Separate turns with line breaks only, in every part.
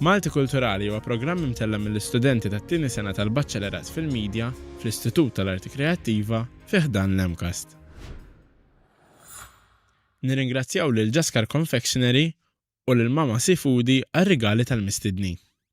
Malti Kulturali huwa programm imtella' mill-istudenti tat-tieni sena tal-Baċċelerat fil-Media fl-Istitut tal-Arti Kreattiva fi ħdan l-MCAST. Nirringrazzjaw lil Jaskar Confectionery u lil Mama Seafoody għar-rigali tal-mistednin.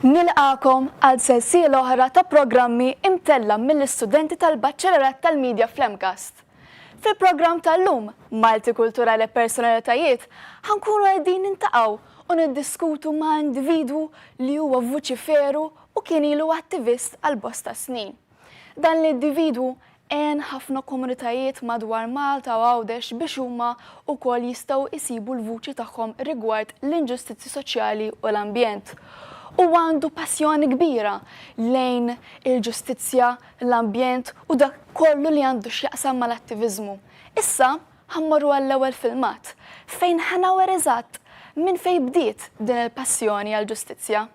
Nilqagħkom għal sensiela oħra ta' programmi imtella' mill-istudenti tal-Baċċellerat tal-Media fl-MCAST. Fil-programm tal-lum, Malti Kulturali e Personalitajiet, ħa nkunu qegħdin nintaqgħu u niddiskutu ma' individwu li huwa vuċiferu u kien ilu attivist għal bosta snin. Dan l-individwu għen ħafna komunitajiet madwar Malta u Għawdex biex huma wkoll jistgħu jsibu l-vuċi tagħhom rigward l-inġustizzji soċjali u l-ambjent. Huwa għandu passjoni kbira lejn il-ġustizzja, l-ambjent u dak kollu li għandu x'jaqsam mal-attiviżmu. Issa ħa mmorru għall-ewwel filmat fejn ħa nawher eżatt minn fejn bdiet din il-passjoni għall-ġustizzja.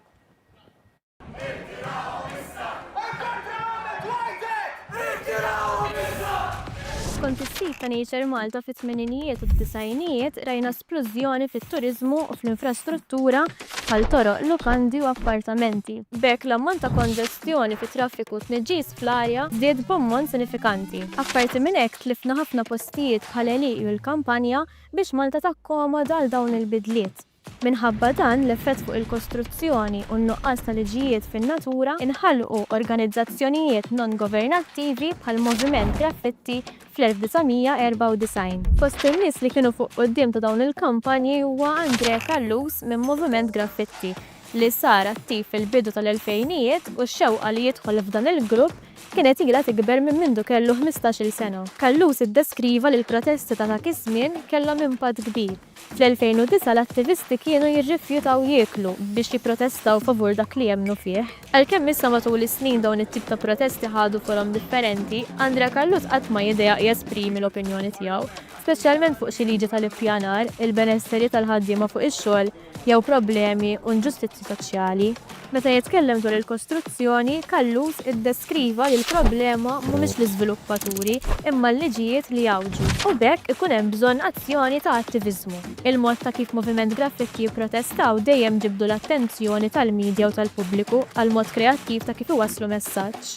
Skont is-sit ta' Nature Malta fit-tmeninijiet u d-disgħinijiet rajna splużjoni fit-turiżmu u fl-infrastruttura bħal toroq, lukandi u appartamenti. B'hekk l-ammont ta' konġestjoni fit-traffiku u tniġġis fl-arja żdied b'ammont sinifikanti. Apparti minn hekk tlifna ħafna postijiet bħal għelieqi u l-kampanja biex Malta takkomoda għal dawn il-bidliet. Minħabba dan l-effett fuq il-kostruzzjoni u n-nuqqas ta' liġijiet fin-natura, inħalqu organizzazzjonijiet non-governattivi bħall-Moviment Graffitti fl-1994. Fost in-nies li kienu fuq quddiem ta' dawn il-kampanji huwa Andrè Callus minn Moviment Graffitti li sar attiv fil-bidu tal-elfejnijiet u x-xewqa li jidħol f'dan il-grupp kienet ilha tikber minn mindu kellu ħmistax-il sena. Callus iddeskriva li l-protesti ta' dak iż-żmien kellhom impatt kbir, Fl-2009 l-attivisti kienu jirrifjutaw jieklu biex jipprotestaw favur dak li jemmnu fih. Għalkemm issa matul is-snin dawn it-tip ta' protesti ħadu forom differenti, Andrea Carlut qatt ma jidejaq jesprimi l-opinjoni tiegħu, speċjalment fuq xi liġi tal-ippjanar, il-benesseri tal-ħaddiema fuq ix-xogħol jew problemi u nġustizzji soċjali. Meta jitkellem dwar il-kostruzzjoni, Callus iddeskriva li l-problema mhumiex l-iżviluppaturi imma l-liġijiet li jgħawġu, u b'hekk ikun hemm bżonn azzjoni ta' attiviżmu. Il-mod ta' kif Moviment Graffiti jipprotestaw dejjem ġibdu l-attenzjoni tal-midja u tal-pubbliku għal mod kreattiv ta' kif iwasslu messaġġ.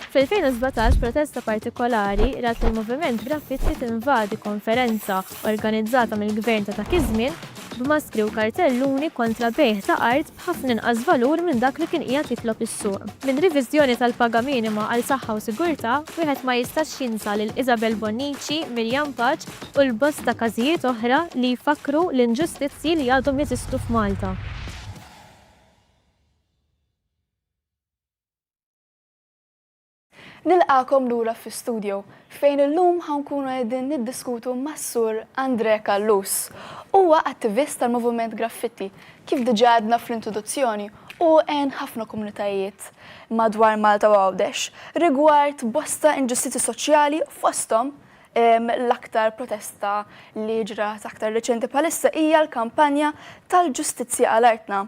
Fl-2017, protesta partikolari rat lill-Moviment Graffiti tinvadi konferenza organizzata mill-gvern ta' dak iż-żmien b'maskri u kartelluni kontra bejgħ ta' art b'ħafna inqas valur minn dak li kien qiegħed jitlob is-suq. Minn riviżjoni tal-paga minima għal saħħa u sigurtà, wieħed ma jistax jinsa lil Isabel Bonnici, Miriam Paċ u l-bosta każijiet oħra li jfakkru l-inġustizzji li għadhom jeżistu f'Malta.
Nilqagħkom lura fi studio fejn illum ħa nkunu qegħdin niddiskutu mas-Sur Andrè Callus. Huwa attivist tal-Moviment Graffitti, kif diġà għedna fl-introduzzjoni hu għen ħafna komunitajiet madwar Malta u Għawdex rigward bosta inġustizzji soċjali fosthom L-aktar protesta li ġrat aktar reċenti bħalissa hija l-kampanja tal-Ġustizzja għal Artna,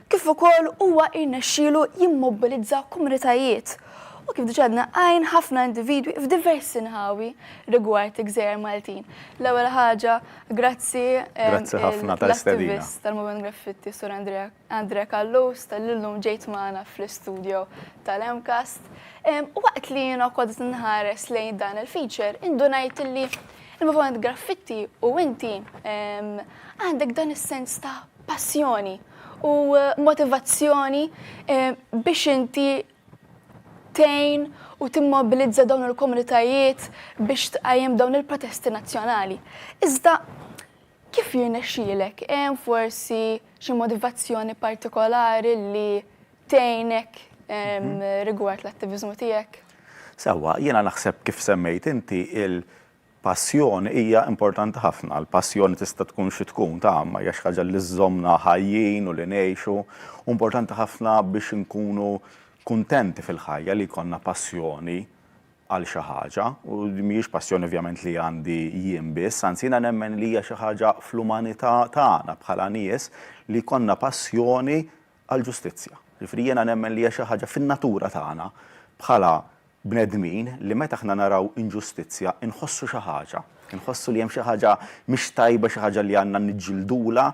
kif ukoll huwa irnexxielu jimmobbilizza komunitajiet u kif diġà għadna għajn ħafna individwi f'diversi nħawi rigward il-Gżejjer Maltin. L-ewwel ħaġa, grazzi Grazzi ħafna
tal-istedina. l-attivist tal-Moviment Graffitti
Sur Andrea Andrea Callus talli llum ġejt magħna fl-istudjo tal-MCAST. Waqt li jiena kont qed inħares lejn dan il-feature, indunajt li il-moviment graffitti u inti għandek dan is-sens ta' passjoni u motivazzjoni biex inti tejn u timmobilizza dawn il-komunitajiet biex tqajjem dawn il-protesti nazzjonali. Iżda Kif jirnexxielek? Hemm forsi xi motivazzjoni partikolari li tgħinek rigward l-attiviżmu tiegħek? Sewwa, jiena
naħseb kif semmejt inti il-passjoni hija importanti ħafna. Il-passjoni tista' tkun xi tkun, ta' ma hija xi ħaġa li żżommna ħajjin u li ngħixu. Hu importanti ħafna biex inkunu kuntenti fil-ħajja li jkollna passjoni għal xi ħaġa, u din mhijiex passjoni ovvjament li għandi jien biss, anzi jiena nemmen li hija xi ħaġa fl-umanità tagħna bħala nies li jkollna passjoni għall-ġustizzja. Jiġifieri jiena nemmen li hija xi ħaġa fin-natura tagħna bħala bnedmin li meta aħna naraw inġustizzja nħossu xi ħaġa, inħossu li hemm xi ħaġa mhix tajba, xi ħaġa li għandna niġġildulha.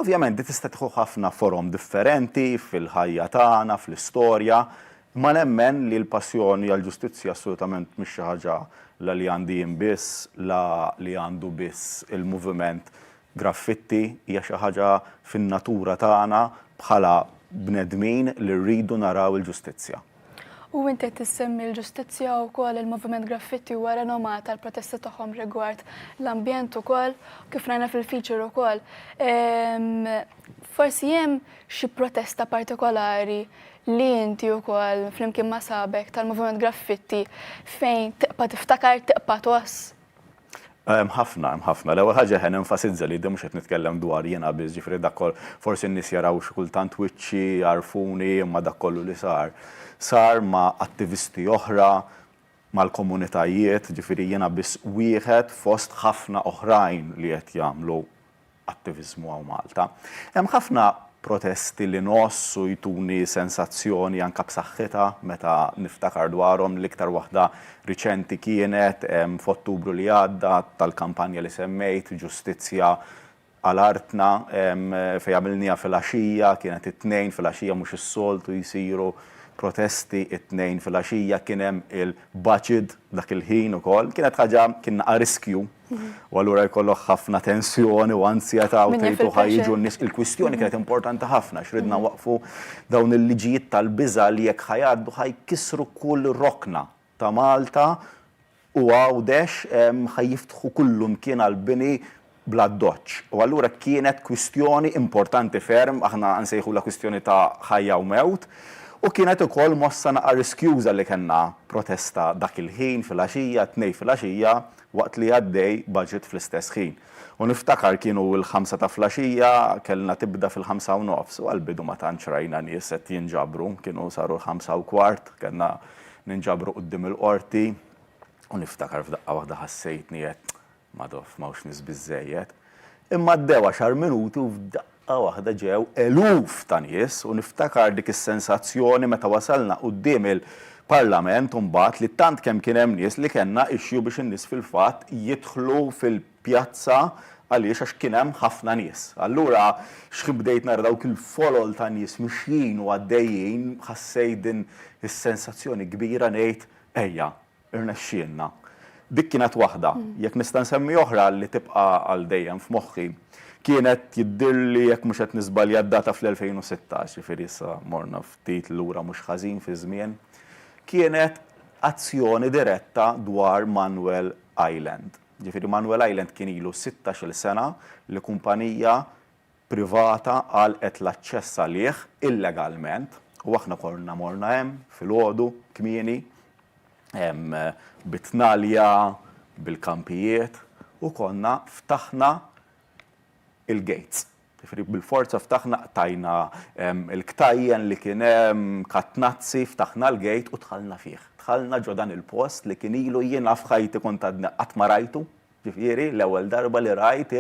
Ovvjament din tista' tieħu ħafna forom differenti fil-ħajja tagħna, fl-istorja, Imma nemmen li l-passjoni għall-ġustizzja assolutament mhix xi ħaġa la li għandi jien biss, la li għandu biss il-moviment graffitti, hija xi ħaġa fin-natura tagħna bħala bnedmin li rridu naraw il-ġustizzja. U inti qed
issemmi l-ġustizzja wkoll il-moviment graffitti huwa renomat għall-protesti tagħhom rigward l-ambjent ukoll, kif rajna fil-feature ukoll. Forsi hemm xi protesta partikolari li inti wkoll flimkien ma' shabek tal-Moviment Graffitti fejn tiqpa' tiftakar, tiqpa' tgħożż? Hemm
ħafna, hemm ħafna. L-ewwel ħaġa eħe nenfasizza li mhux qed nitkellem dwar jiena biss, ġifieri dak kollu, forsi n-nies jaraw xi kultant wiċċi, jagħrfuni, imma dak kollu li sar, sar ma' attivisti oħra, mal-komunitajiet, ġifieri jiena biss wieħed fost ħafna oħrajn li qed jagħmlu attiviżmu hawn Malta. Hemm ħafna protesti li ngħoss u jtuni sensazzjoni anke b'saħħitha meta niftakar dwarhom. L-iktar waħda riċenti kienet f'Ottubru li għadda tal-kampanja li semmejt, Ġustizzja għal artna, fejn għamilniha filgħaxija, kienet it-Tnejn filgħaxija mhux is-soltu jsiru protesti t-Tnejn filgħaxija. Kien hemm il-Baċid dak il-ħin ukoll. Kienet ħaġa, kien a riskju U allura jkollok ħafna tensjoni u anzjetà u tgħid u ħajġu n-nies. Il-kwistjoni kienet importanti ħafna x'ridna waqfu dawn il-liġijiet tal-biża' li jekk ħajgħaddu ħajkissru kull rokna ta' Malta u Għawdex ħajjiftħu kullumkien għall-bini bl-addoċċ. U allura kienet kwistjoni importanti ferm, aħna nsejħulha kwistjoni ta' ħajja u mewt, u kienet ukoll mossa naqa' riskjuża li kellna protesta dak il-ħin filgħaxija, t-Tnejn filgħaxija, waqt li għaddej budget fl-istess ħin. U niftakar kienu l-ħamsa ta' flaxija, kellna tibda fil-ħamsa u nofs, u għall-bidu ma tantx rajna nies qed jinġabru, kienu saru l-ħamsa u kwart, kellna ninġabru quddiem il-Qorti, u niftakar f'daqqa waħda ħassejtni għedt, Madò, m'hawnx nies biżżejjed. Imma għaddew għaxar minuti u f'daqqa, Daqqa waħda ġew eluf ta' nies u niftakar dik is-sensazzjoni meta wasalna quddiem il-Parlament u mbagħad li tant kemm kien hemm nies li kellna issue biex in-nies fil-fatt jidħlu fil-pjazza għaliex għax kien hemm ħafna nies. Allura xħin bdejt nara dawk il-folol ta' nies mixjin u għaddejjin ħassejt din is-sensazzjoni kbira ngħid ejja Irnexxielna. Dik kienet waħda. Jekk nista' nsemmi oħra li tibqa' għal dejjem f'moħħi, kienet jidhirli jekk mhux qed niżbalja d-data fl-2016, jiġifieri issa morna ftit lura mhux ħażin fiż-żmien, kienet azzjoni diretta dwar Manuel Island. Jiġifieri Manuel Island kien ilu sittax-il sena li kumpanija privata għalqet l-aċċess għalih illegalment u aħna konna morna hemm filgħodu kmieni bit-tnalja, bil-kampijiet u konna ftaħna l-gates. Jiġifieri bil-forza ftaħna, qtajna l-ktajjen li kien hemm, katnazzi, ftaħna l-gate u dħalna fih. Dħalna ġo dan il-post li kien ilu jiena f'ħajti kont għadni qatt ma rajtu, jiġifieri l-ewwel darba li rajt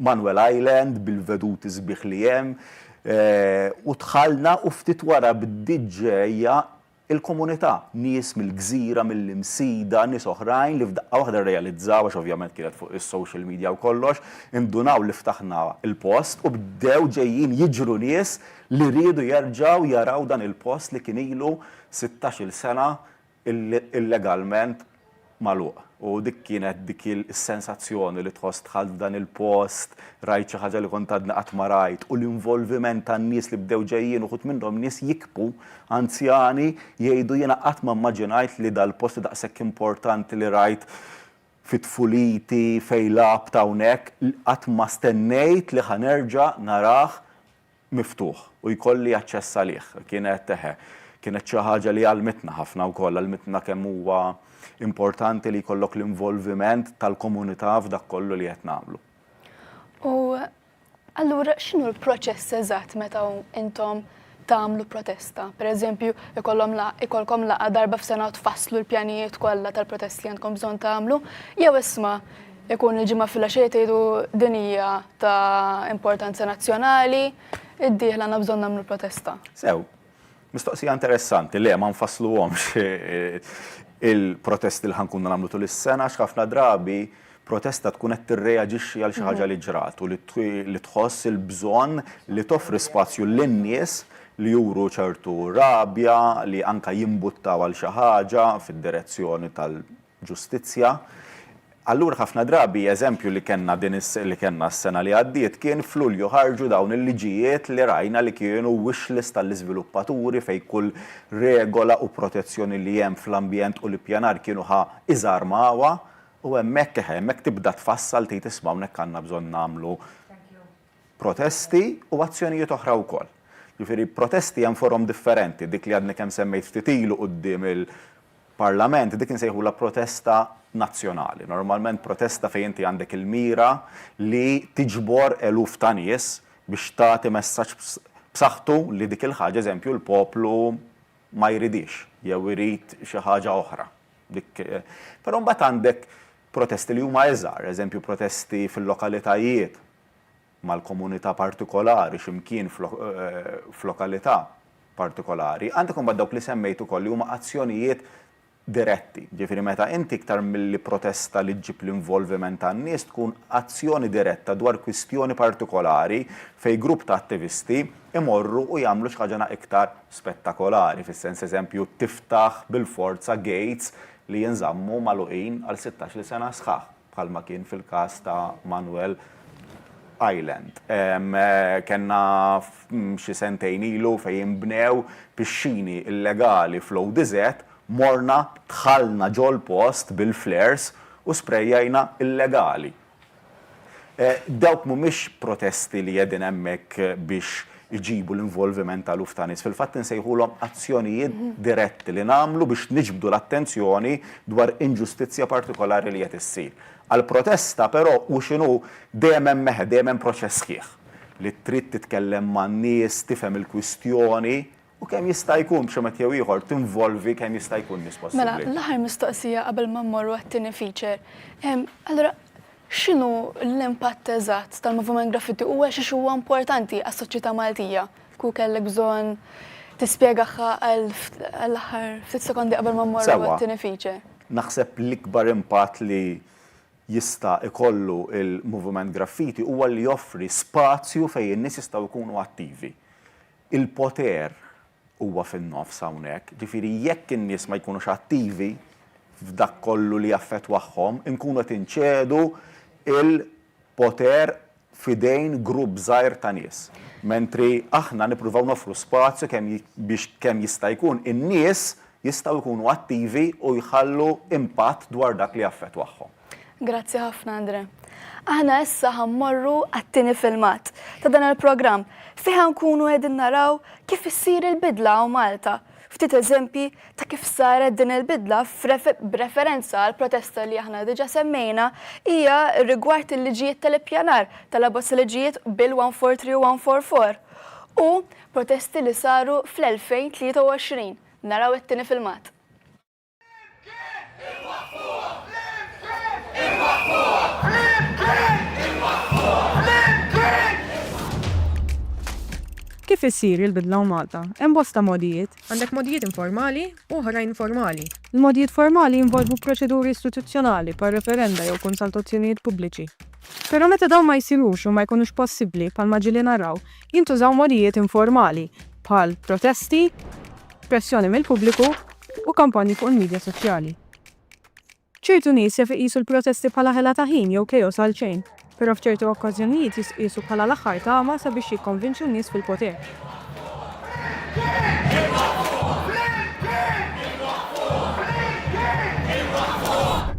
Manuel Island bil-veduti sbieħ li hemm u dħalna u ftit wara bdiet ġejja l-komunità, nies mill-gżira, mill-Imsida, nies oħrajn li f'daqqa waħda rrealizzaw, għax ovvjament kienet fuq is-social media u kollox, indunaw li ftaħna l-post u bdew ġejjin jiġru nies li riedu jerġgħu jaraw dan il-post li kien ilu sittax-il sena illegalment magħluq. U dik kienet dik is-sensazzjoni li tħoss dħalt f'dan il-post, rajt xi ħaġa li kont għadni qatt ma rajt u l-involviment tan-nies li bdew ġejjin uħud minnhom nies jikbu, anzjani, jgħidu jiena qatt ma mmaġinajt li dal-post daqshekk importanti li rajt fi tfuliti fejn lgħabt hawnhekk qatt ma stennejt li ħa nerġa' narah miftuħ u jkolli aċċess għalih. Kienet, eħe, kienet xi ħaġa li għallmitna ħafna wkoll, għallmitna kemm huwa importanti li jkollok l-involviment tal-komunità f'dak kollu li qed nagħmlu. U
allura x'inhu l-proċess eżatt meta intom tagħmlu protesta? Pereżempju, ikollhom ikollkom laqgħa darba f'sena u tfasslu l-pjanijiet kollha tal-protest li għandkom bżonn tagħmlu, jew isma' Ikun il-ġimgħa filgħaxija tgħidu din hija ta' importanza nazzjonali, id-dieħla għandna bżonn nagħmlu protesta. Sew.
Mistoqsija interessanti. Le, ma nfassluhomx il-protesti li ħa nkunu nagħmlu tul is-sena għax ħafna drabi protesta tkun qed tirreaġixxi għal xi ħaġa li ġrat u li tħoss il-bżonn li toffri spazju lin-nies li juru ċertu rabja, li anke jimbuttaw għal xi ħaġa fid-direzzjoni tal-, ġustizzja. Allura ħafna drabi eżempju li kellna din li kellna s-sena li għaddiet kien f'Lulju ħarġu dawn il-liġijiet li rajna li kienu wish list għall-iżviluppaturi fejn kull regola u protezzjoni li hemm fl-ambjent u l-ippjanar kienu ħa iżarmawha u hemmhekk eħe hemmhekk tibda tfassal tgħid isma' hawnhekk għandna bżonn nagħmlu protesti u azzjonijiet oħra wkoll. Jiġifieri protesti hemm forom differenti, dik li għadni kemm semmejt ftit ilu quddiem il-Parlament dik insejħulha protesta nazzjonali. Normalment protesta fejn inti għandek il-mira li tiġbor eluf ta' nies biex tagħti messaġġ b'saħħtu li dik il-ħaġa eżempju l-poplu ma jridhiex jew irid xi ħaġa oħra. Dik Però mbagħad għandek Protesti li huma iżgħar, eżempju protesti fil-lokalitajiet, mal-komunità partikolari, xi mkien f'lokalità partikolari. Għandek imbagħad dawk li semmejt ukoll li huma azzjonijiet diretti, jiġifieri meta inti iktar milli protesta li ġġib l-involviment tan-nies tkun azzjoni diretta dwar kwistjoni partikolari fejn grupp ta' attivisti jmorru u jagħmlu xi ħaġa iktar spettakolari, fis-sens eżempju tiftaħ bil-forza gates li jinżammu magħluqin għal sittax-il sena sħaħ, bħalma kien fil-każ ta' Manuel Island. Kellna xi sentejn ilu fejn inbnew pixxini illegali fl-ODZ, morna dħalna ġol-post bil-flares u sprejajna illegali Dawk mhumiex protesti li qegħdin hemmhekk biex iġibu l-involviment ta' eluf ta' nies. Fil-fatt insejħulhom azzjonijiet diretti li nagħmlu biex niġbdu l-attenzjoni dwar inġustizzja partikolari li qed issir. Għall-protesta però, hu x'inhu, dejjem hemm mehedha, dejjem hemm proċess sħiħ li trid titkellem man-nies, tifhem il-kwistjoni. U kemm jista' jkun, b'xi mod jew ieħor, tinvolvi kemm jista' jkun nies possibbli. Mela, l-aħħar mistoqsija
qabel ma mmorru għat-tieni feature. Allura, x'inhu l-impatt eżatt tal-Moviment Graffiti u għalxiex huwa importanti għas-soċjetà Maltija? Kieku kellek bżonn tispjegahha għall-aħħar ftit sekondi qabel ma mmorru għat-tieni feature. Sewwa. Naħseb l-ikbar
impatt li jista' jkollu l-Moviment Graffiti huwa li joffri spazju fejn in-nies jistgħu jkunu attivi. Il-poter huwa fin-nofs hawnhekk, ġifieri jekk in-nies ma jkunux attivi f'dak kollu li jaffettwahom, inkunu qed inċedu l-poter f'idejn grupp żgħir ta' nies. Mentri aħna nippruvaw noffru spazju kemm biex kemm jista' jkun in-nies jistgħu jkunu attivi u jħallu impatt dwar dak li jaffettwahom. Grazzi ħafna
Andre. Aħna issa ħammorru għat-tieni filmat ta' dan il-programm fih nkunu qegħdin naraw kif issir il-bidla hawn Malta. Ftit eżempji ta' kif saret din il-bidla b'referenza għall-protesta li aħna diġà semmejna hija rigward il-liġijiet tal-ippjanar tal-abbozz liġijiet Bill 143 u 144 u protesti li saru fl-2023. Naraw it-tieni filmat.
Kif issir il-bidla u Malta? Hemm bosta mogħdijiet. Għandek mogħdijiet
informali u oħrajn formali. Il-mogħdijiet formali
jinvolvu proċeduri istituzzjonali bħal referenda jew konsaltazzjonijiet pubbliċi. Però meta dawn ma jsirux jew ma jkunux possibbli, bħalma ġieli naraw, jintużaw modijiet informali bħal protesti, pressjoni mill-pubbliku u kampanji fuq il-midja soċjali. Ċertu nies jaf iqisu l-protesti bħala ħela ta' ħin jew chaos għal xejn, però f'ċertu okkażjonijiet jisqisu bħala l-aħħar tama sabiex jikkonvinċu n-nies fil-poter.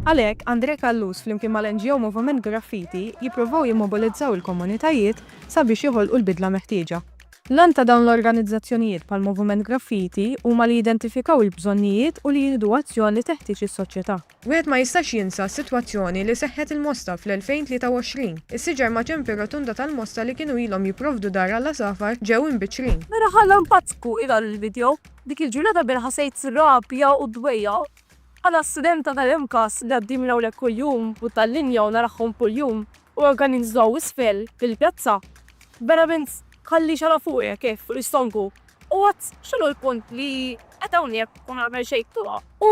Għalhekk, Andre Callus flimkien mal-NGO Moviment Graffiti jippruvaw jimmobilizzaw il-komunitajiet sabiex joħolqu l-bidla meħtieġa. L-għan ta' dawn l-organizzazzjonijiet bħal Moviment Graffiti huma li jidentifikaw il-bżonnijiet u li jieħdu azzjon li teħtieġ is-soċjetà. Wieħed ma jistax
jinsa s-sitwazzjoni li seħħet il-Mosta fl-2023. Is-siġar maċen fir-rotunda tal-Mosta li kienu ilhom jipprovdu dar għall-għasafar ġew imbiċċrin. Mela ħalla npazzku
i dan il-video. Dik il-ġurnata bejn ħasejt rabja u dwejja. Bħala studenta tal-MCAS li għaddi minn hawnhekk kuljum u tal-linja u narahhom kuljum, u organizzaw isfel fil-pjazza. Verament tħalli xara fuq hekk hekk fuq l-istonku. U għad x'inhu l-punt li qed hawnhekk u nagħmel xejn fuqha? U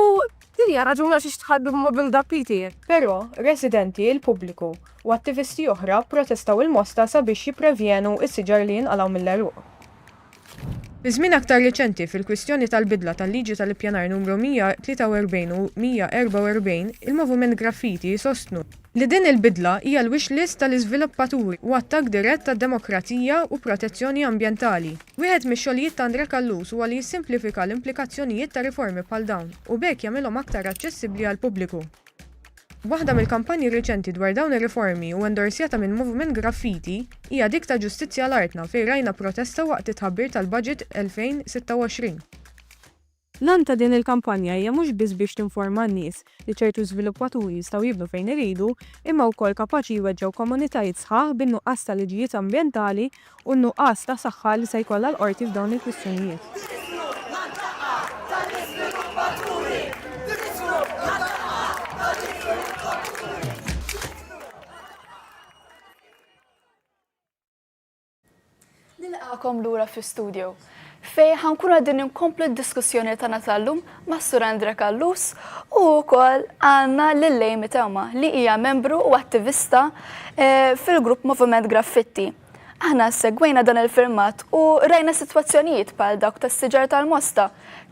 din hija raġuni għaliex tħall bil-mobil dak li jtir. Però
residenti, il-pubbliku, u attivisti oħra pprotestaw il-mosta sabiex jipprevjenu s-siġar li jinqalgħu mill-għeruq. Iż-żmien aktar riċenti fil-kwistjoni tal-bidla tal-Liġi tal-Ippjanar Numru 143 u 144, il-Moviment Graffiti jsostnu, li din il-bidla hija l-wish list tal-iżviluppaturi u attakk dirett għad-demokrazija u protezzjoni ambjentali. Wieħed mix-xogħlijiet ta' Andrè Callus huwa li jissimplifika l-implikazzjonijiet ta' riformi bħal dawn u b'hekk jagħmilhom aktar aċċessibbli għall-pubbliku. Waħda mill-kampanji riċenti dwar dawn ir-riformi u endorsjata minn Moviment Graffiti hija dik ta' Ġustizzja għal Artna fejn rajna protesta waqt it-tħabbir tal-Budget
2026. L-għan ta' din il-kampanja hija mhux biss biex tinforma n-nies li ċertu żviluppaturi jistgħu jibnu fejn iridu imma wkoll kapaċi jweġġgħu komunitajiet sħaħ bin-nuqqas ta' liġijiet ambjentali u n-nuqqas ta' saħħa li se jkollha l-Qorti f'dawn il-kwistjonijiet. Nilqagħkom
lura fl-istudio. fejn ħa nkunu qegħdin inkomplu d-diskussjoni tagħna tal-lum mas-Sur Andre Callus u wkoll għandna lil Amy Tewma li hija membru u attivista eh, fil-grupp Moviment Graffitti. Aħna segwejna dan il-firmat u rajna sitwazzjonijiet bħal dawk tas-siġar tal-mosta,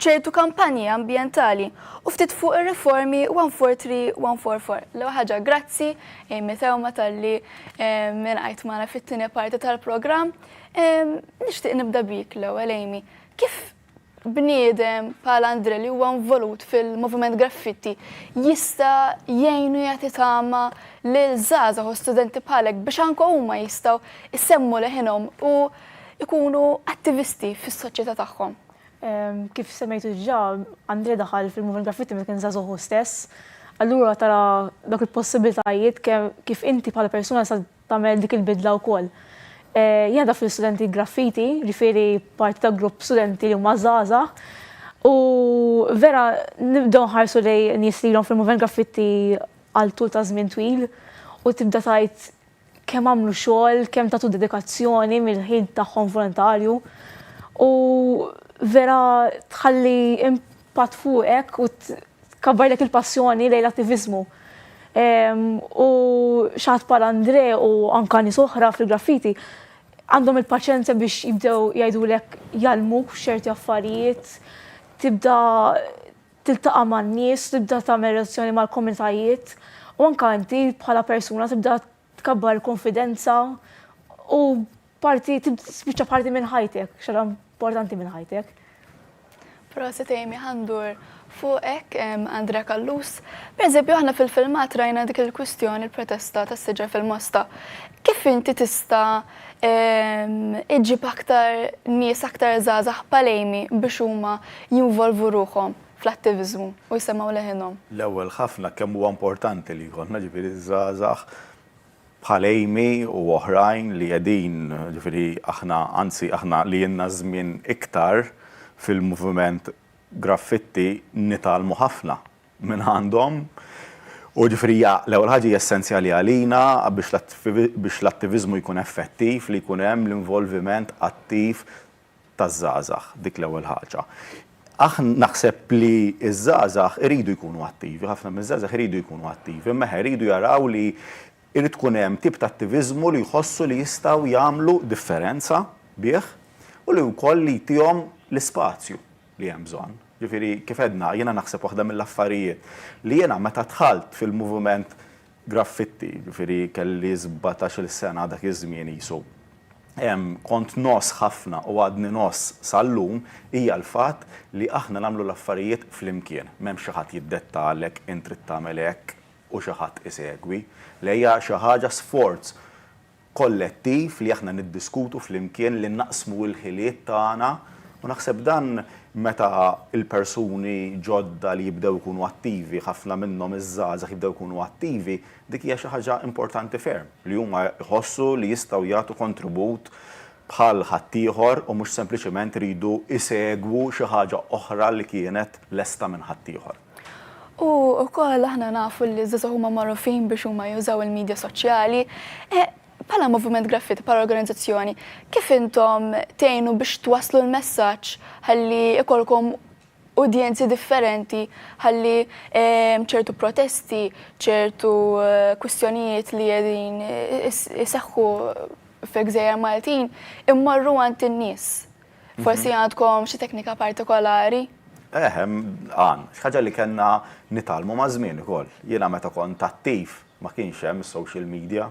ċertu kampanji ambjentali u ftit fuq ir-riformi 143 144. L-ewwel ħaġa grazzi Amy Tewma tal-li eh, minn qajt magħna fit-tieni parti tal-programm. Nixtieq nibda bik l-ewwel Amy. Kif bniedem bħal Andre li huwa involut fil-moviment graffitti jista' jgħinu jagħti tama lil żgħażagħ u studenti bħalek biex anke huma jistgħu jsemmu leħinhom u jkunu attivisti fis-soċjetà tagħhom. Kif
semmejtu ġa, Andre daħal fil-moviment graffitti meta kien żagħżugħ hu stess. Allura tara dawk il-possibilitajiet kemm kif inti bħala persuna sa tagħmel dik il-bidla wkoll. Jingħadha fl-istudenti graffiti, ġifieri parti ta' grupp studenti li huma żgħażagħ. U vera nibdew nħarsu li nies li ilhom fil-moviment graffitti għal tul ta' żmien twil u tibda tgħid kemm għamlu xogħol, kemm tagħtu dedikazzjoni mill-ħin tagħhom volontarju. U vera tħalli patt fuqek u tkabbarlek il-passjoni lejn l-attiviżmu. U xaħat bħal Andre u anka nies oħra fil-graffiti għandhom il-paċenzja biex jibdew jgħidulek jgħallmuk f'ċerti affarijiet, tibda tiltaqa' man-nies, tibda tagħmel relazzjoni mal-komunitajiet u anka inti bħala persuna tibda Tkabbar il-kunfidenza u parti spiċċa parti minn ħajtek, xara importanti minn ħajtek. Proset
Amy ħandur fuqek Andrea Kallus. Per eżempju, aħna fil-filmat rajna dik il-kwistjoni il-protesta tas siġar fil-mosta. Kif inti tista iġib aktar nies aktar zazax palejmi biex huma jinvolvu ruħom fl-attiviżmu u jsemmgħu leħinhom. L-ewwel ħafna
kemm huwa importanti li jkollna ġifieri żgħażagħ bħal Amy u oħrajn li qegħdin ġifieri aħna anzi aħna li ilna żmien iktar fil-moviment graffitti nitgħallmu ħafna minn għandhom u ġifieri hija l-ewwel ħaġa hija essenzjali għalina biex l-attiviżmu jkun effettiv li jkun hemm l-involviment attiv taż-żgħażagħ dik l-ewwel ħaġa. Aħna naħseb li ż-żgħażagħ iridu jkunu attivi, ħafna miż-żgħażagħ iridu jkunu attivi, imma eħe jridu jaraw li jrid tkun hemm tip ta' attiviżmu li jħossu li jistgħu jagħmlu differenza bih u li wkoll li jtihom l-ispazju li hemm bżonn. Ġifieri kif għedna, jiena naħseb waħda mill-affarijiet li jiena meta dħalt fil-moviment graffitti, jiġifieri kelli sbatax-il sena dak iż-żmien qisu. Kont ngħożż ħafna u għadni ngħożż sal-lum, hija l-fatt li aħna nagħmlu l-affarijiet flimkien. M'hemm xi ħadd jiddettalek int trid tagħmel hekk u xi ħadd isegwi. Le hija xi ħaġa sforz kollettiv li aħna niddiskutu flimkien, li naqsmu l-ħiliet tagħna u naħseb dan meta l-persuni ġodda li jibdew ikunu attivi, ħafna minnhom iż-żgħażagħ jibdew ikunu attivi, dik hija xi ħaġa importanti ferm li huma jħossu li jistgħu jagħtu kontribut bħal ħaddieħor u mhux sempliċement iridu jsegwu xi ħaġa oħra li kienet lesta minn ħaddieħor. U
wkoll aħna nafu li żgħażagħ huma magħrufin biex huma jużaw il-medja soċjali. Eh, bħala Moviment Graffiti, bħala organizzazzjoni, kif intom tgħinu biex twaslu l-messaġġ ħalli ikolkom udjenzi differenti ħalli ehm, ċertu protesti, ċertu eh, kwistjonijiet li jedin eh, iseħħu f'egżejjer Maltin immorru għand in-nies. Forsi mhm. għandkom xi teknika partikolari? Eh,
għan, xaġa li kena nitalmu ma' żmien ukoll. Jiena meta kont attiv ma kienx hemm social media.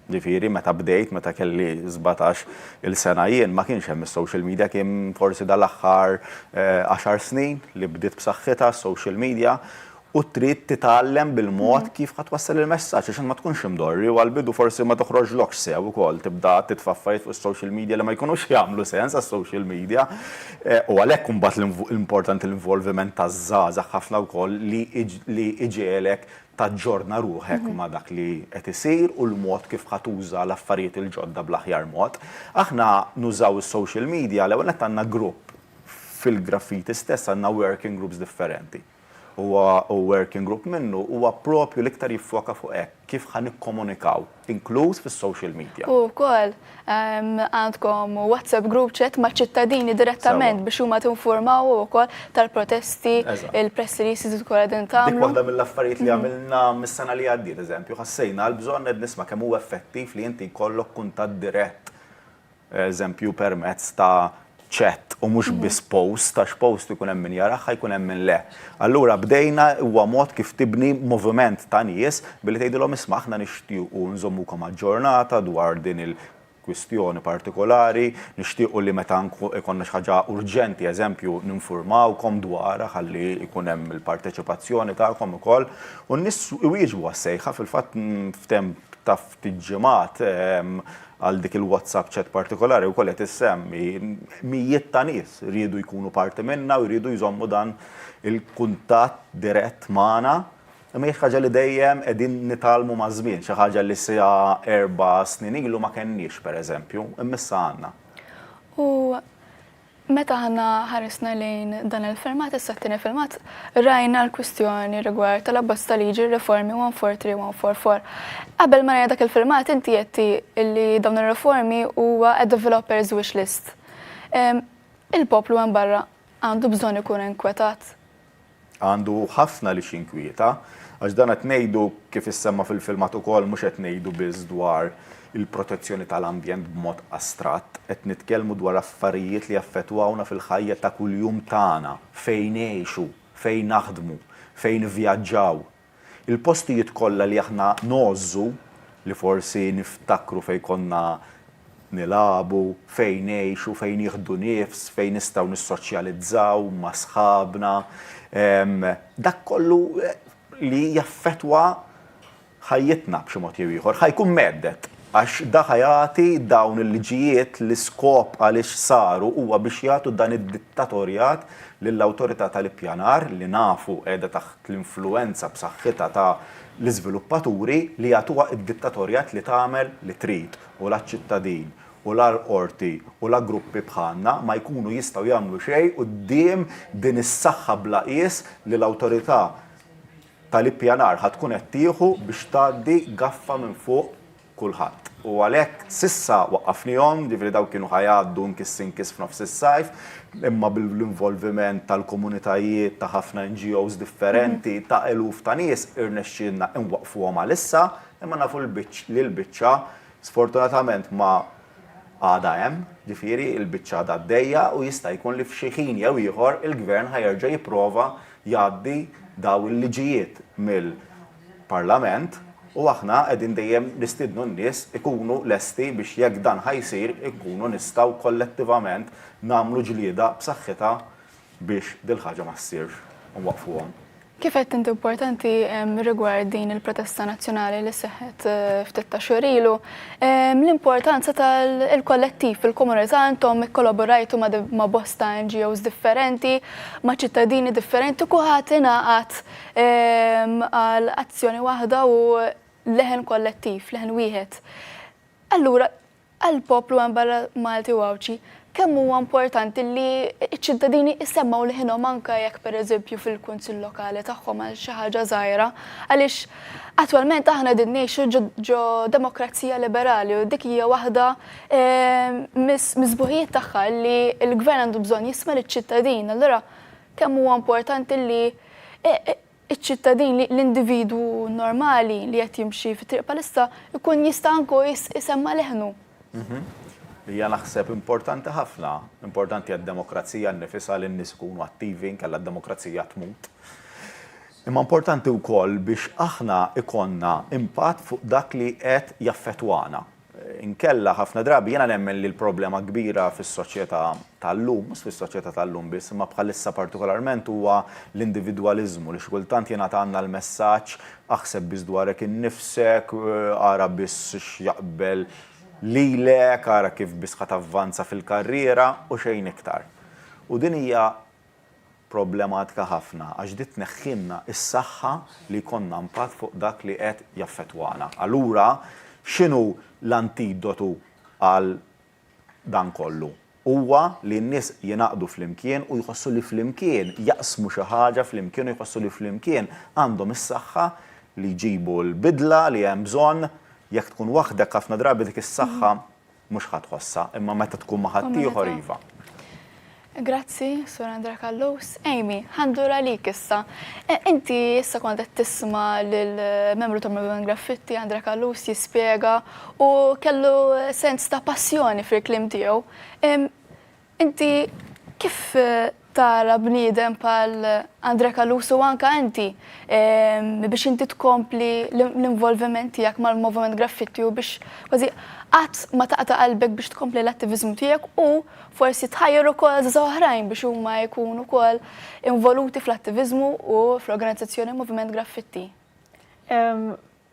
Ġifieri meta bdejt, meta kelli 17 il-sena jien ma kienx hemm is-social media kien forsi dal-aħħar 10 eh, snin li bdiet b'saħħitha social media u trid titgħallem bil-mod kif ħa twassal il-messaġġ għax int ma tkunx imdorri u għall-bidu forsi ma toħroġlokx sew ukoll tibda titfa' affarijiet fuq is-social media li ma jkunux jagħmlu sens għas-social media u għalhekk imbagħad l-importanti l-involviment taż-żgħażagħ ħafna wkoll li li iġegħelek taġġorna ruħek ma' dak li qed isir u l-mod kif ħa tuża l-affarijiet il-ġodda bl-aħjar mod. Aħna nużaw is-social media l-ewwel nett għandna grupp fil-graffiti stess għandna working groups differenti. huwa u working group minnu huwa proprju l-iktar jiffoka fuq hekk, kif ħa nikkomunikaw, inkluż fis-social media. U wkoll
għandkom WhatsApp group chat maċ-ċittadini direttament biex huma tinfurmawhom ukoll tal-protesti, il-press releases li tkunu qegħdin tagħmlu. Dik waħda mill-affarijiet li
għamilna mis-sena li għaddiet, eżempju, ħassejna l-bżonn qed nisma' kemm huwa effettiv li inti jkollok kuntatt dirett eżempju permezz ta' chat u mhux biss post, għax post ikun hemm min jarah, jkun hemm min le. Allura bdejna huwa mod kif tibni moviment ta' nies billi tgħidilhom isma' aħna nixtiequ nżommukom aġġornata dwar din il- kwistjoni partikolari, nixtiequ li meta jkollna xi ħaġa urġenti eżempju ninfurmawkom dwarha ħalli jkun hemm il-parteċipazzjoni tagħkom ukoll. U n-nies iwieġbu għas-sejħa fil-fatt f'temp ta' ftit ġimgħat Għal dik il-WhatsApp chat partikolari wkoll qed issemmi, mijiet ta' nies riedu jkunu parti minnha u jridu jżommu dan il-kuntatt dirett magħna. Imma hi xi ħaġa li dejjem qegħdin nitgħallmu maż-żmien, xi ħaġa li sa erba' snin ilu ma kenniex, pereżempju, imma issa għandna. U
Meta aħna ħarisna lejn dan il-filmat, issa t-tieni filmat, rajna l-kwistjoni rigward tal-abbozz ta' liġi r-riformi 143 u 144. Qabel ma rajna dak il-filmat inti għedti li dawn ir-riformi huwa a developer's wish list. Il-poplu hemm barra għandu bżonn ikun inkwetat. Għandu
ħafna li x'inkwieta, għax dan qed ngħidu, kif issemma fil-filmat ukoll, mhux qed ngħidu biss dwar il-protezzjoni tal-ambjent b'mod astratt, qed nitkellmu dwar affarijiet li jaffettwawna fil-ħajja ta' kuljum tagħna, fejn ngħixu, fejn naħdmu, fejn nivvjaġġaw, Il-postijiet kollha li aħna ngħożżu, li forsi niftakru fejn konna nilagħbu, fejn ngħixu, fejn nieħdu nifs, fejn nistgħu nissoċjalizzaw ma' sħabna, dak kollu li jaffettwa ħajjitna b'xi mod jew ieħor, ħa jkun mhedded. Għax da ħa jagħti dawn il-liġijiet l-iskop għaliex saru huwa biex jagħtu dan id-dittatorjat lill-Awtorità tal-Ippjanar li nafu qiegħda taħt l-influwenza b'saħħitha ta' l-iżviluppaturi li jagħtuha id-dittatorjat li tagħmel li trid u la ċ-ċittadin u la l-qorti u la gruppi bħalna ma jkunu jistgħu jagħmlu xejn quddiem din is-saħħa bla qies li l-Awtorità ta' l-Ippjanar ħa tkun qed tieħu biex tgħaddi gaffa minn fuq kulħadd. U għalhekk s'issa waqqafnihom, jiġifieri dawn kienu ħa jgħaddu nkiss inkiss f'nofs is-sajf, imma bl-involviment tal-komunitajiet ta' ħafna NGOs differenti, ta' eluf ta' nies, irnexxielna inwaqqfuhom għalissa, imma nafu li l-biċċa sfortunatament ma għadha hemm, jiġifieri l-biċċa għadha għaddejja u jista' jkun li f'xi ħin jew ieħor il-Gvern ħa jerġa' jipprova jgħaddi dawn il-liġijiet mill. Parlament u aħna qegħdin dejjem nistiednu n-nies ikunu lesti biex jekk dan ħa jsir inkunu nistgħu kollettivament nagħmlu ġlieda b'saħħitha biex dil-ħaġa ma ssirx u nwaqqfuhom. Kif
għedt int importanti rigward din il-protesta nazzjonali li seħħet eh, ftit ta' xhur ilu, l-importanza tal-kollettiv fil-komunità intom ikkollaborajtu ma' bosta NGOs differenti, ma' ċittadini differenti, kuħat ingħaqad għal azzjoni waħda u leħen kollettiv, leħen wieħed. Allura, għal poplu għan barra Malti u Għawċi, kemm huwa importanti li ċ-ċittadini jissemmaw liħinhom anka jekk pereżempju fil-kunsill lokali tagħhom għal xi ħaġa żgħira, għaliex attwalment aħna din ngħixu ġo demokrazija liberali u dik hija waħda eh, misbuħijiet tagħha li l-gvern għandu bżonn jisma' liċ-ċittadin. Allura Kemm huwa importanti li ċ-ċittadin, li l-individwu normali li qed jimxi fit-triq bħalissa jkun jista' anke hu jsemma' leħnu.
Hija naħseb importanti ħafna, importanti għad-demokrazija nnifisha li n-nies ikunu attivi inkella d-demokrazija tmut. Imma importanti wkoll biex aħna jkollna impatt fuq dak li qed jaffettwana. Inkella, ħafna drabi, jiena nemmen li l-problema kbira fis-soċjetà tal-lum, mhux fis-soċjetà tal-lum biss, imma bħalissa partikolarment huwa l-individwaliżmu, li xi kultant jingħata għandna l-messaġġ aħseb biss dwarek innifsek, ara biss x'jaqbel lilek, ara kif biss ħa tavvanza fil-karriera u xejn iktar. U din hija problematika ħafna għax di tneħħilna s-saħħa li jkollna impatt fuq dak li qed jaffettwana. Allura x'inhu l-antidotu għal dan kollu? Huwa li n-nies jingħaqdu flimkien u jħossu li flimkien jaqsmu xi ħaġa flimkien u jħossu li flimkien għandhom is-saħħa li jġibu l-bidla li hemm bżonn. Jekk tkun waħdek ħafna drabi dik is-saħħa mhux ħa tħossha, imma meta tkun ma' ħaddieħor iva.
Grazzi, Sur Andrea Kallus. Amy, ħandur għalik issa. E, inti issa kont qed tisma' lill-membru ta' Movement Graffitti Andrea Kallus jispjega u kellu sens ta' passjoni fil-klim tiegħu. Inti kif tara bniedem bħal Andre Caluso u anka inti biex inti tkompli l-involviment tiegħek mal-moviment graffiti u biex kważi qatt ma taqta' qalbek biex tkompli l-attiviżmu tiegħek u forsi tħajjar ukoll żgħażagħ oħrajn biex huma jkunu wkoll involuti fl-attiviżmu u fl-organizzazzjoni Moviment Graffiti?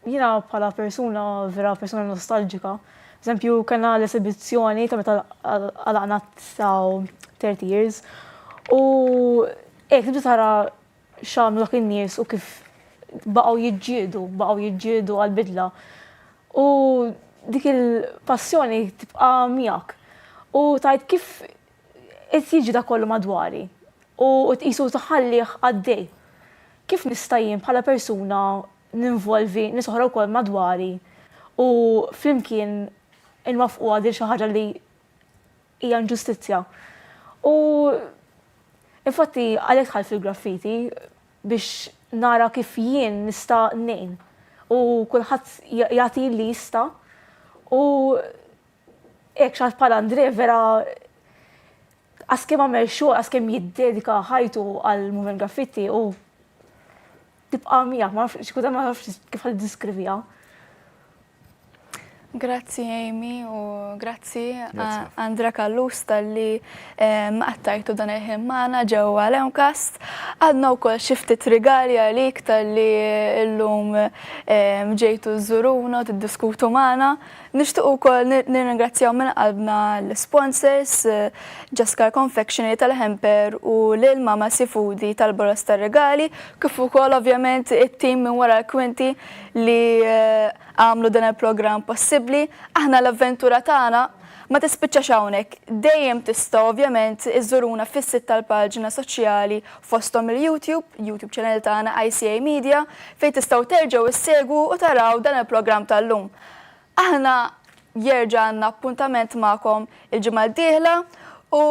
Jiena bħala persuna vera persuna nostalġika, b'eżempju kellna l-esibizzjoni ta' meta għalaqna tsaw thirty years u hekk tibda tara x'għamlu dak in-nies u kif baqgħu jiġġieldu, baqgħu jiġġieldu għall-bidla. U dik il-passjoni tibqa' miegħek. U tgħid kif qed jiġi dak kollu madwari u tqisu tħallih għaddej. Kif nista' jien bħala persuna ninvolvi nies oħra wkoll madwari u flimkien inwaffquha din xi ħaġa li hija inġustizzja. U infatti għalhekk dħalt fil-graffiti biex nara kif jien nista' ngħin u kulħadd jagħti li jista' u hekk xi ħadd bħal Andre vera għaskemm għamel xogħol, għaskemm jiddedika ħajtu għal movement graffiti u Tibqa' miegħek, ma nafx, xi ma nafx kif ħalli diskriviha.
Grazzi Amy u grazzi Andra Kallus tal-li għattajtu dan il-ħin maħna ġewwa l-Ewmkast. Għadna wkoll xi ftit rigali għalik tal-li llum ġejtu żuruna tiddiskutu maħna. Nixtiequ wkoll nirringrazzjaw minn qalbna l-sponsors Ġaskar Confectionery tal-Hemper u lil Mama Sifudi tal-Boros tar-Rigali, kif ukoll ovvjament it-tim minn wara l-kwinti li għamlu dan il-programm possibbli. Aħna l-avventura tagħna ma tispiċċax hawnhekk. Dejjem tistgħu ovvjament iżżuruna fis-sit tal-paġna soċjali fosthom il-YouTube, YouTube channel tagħna ICA Media, fejn tistgħu terġgħu ssegwu u taraw dan il-programm tal-lum. Aħna jerġa' għandna appuntament magħkom il-ġimgħa d-dieħla u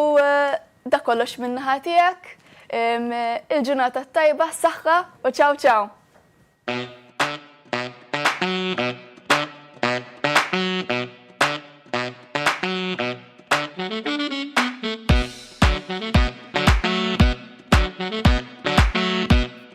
dak kollox min-naħa tiegħek. Il-ġurnata t-tajba, s-saħħa u ċaw ċaw!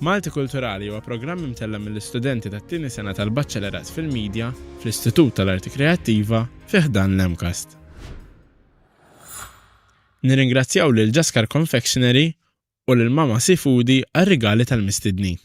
Malti Kulturali huwa programm imtella' mill-istudenti tat-tieni sena tal-Baċċelerat fil-Media fl-Istitut tal-Arti Kreattiva fi ħdan l-MCAST. Nirringrazzjaw lil Jaskar Confectionery u lil Mama Seafoody għar-rigali tal-mistednin.